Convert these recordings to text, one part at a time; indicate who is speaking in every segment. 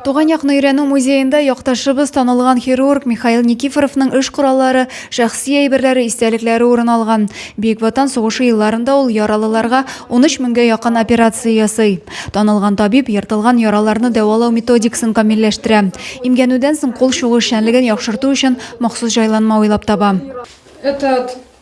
Speaker 1: Туган якны өйрәнү музеенда якташыбыз, танылган хирург Михаил Никифоровның эш кораллары, шәхси әйберләре, истәлекләре урын алган. Бөек Ватан сугышы елларында ул яралыларга 13 меңгә якын операция ясый. Танылган табиб ертылган яраларны дәвалау методикасын камилләштерә. Имгәнүдән соң кул чугы эшчәнлеген яхшырту өчен махсус җайланма уйлап таба. Этот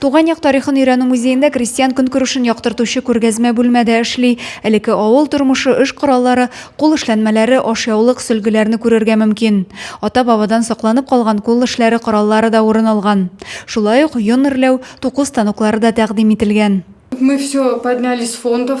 Speaker 1: Туган як тарихын өйрәнү музеенда крестьян көнкүрешен яктыртучы күргәзмә бүлмә дә эшли. Элекке авыл тормышы, эш кораллары, кул эшләнмәләре, ашъяулык, сөлгеләрне күрергә мөмкин. Ата-бабадан сакланып калган кул эшләре кораллары да урын алган. Шулай ук йон эрләү, туку станоклары да тәкъдим ителгән. Мы все
Speaker 2: подняли с фондов.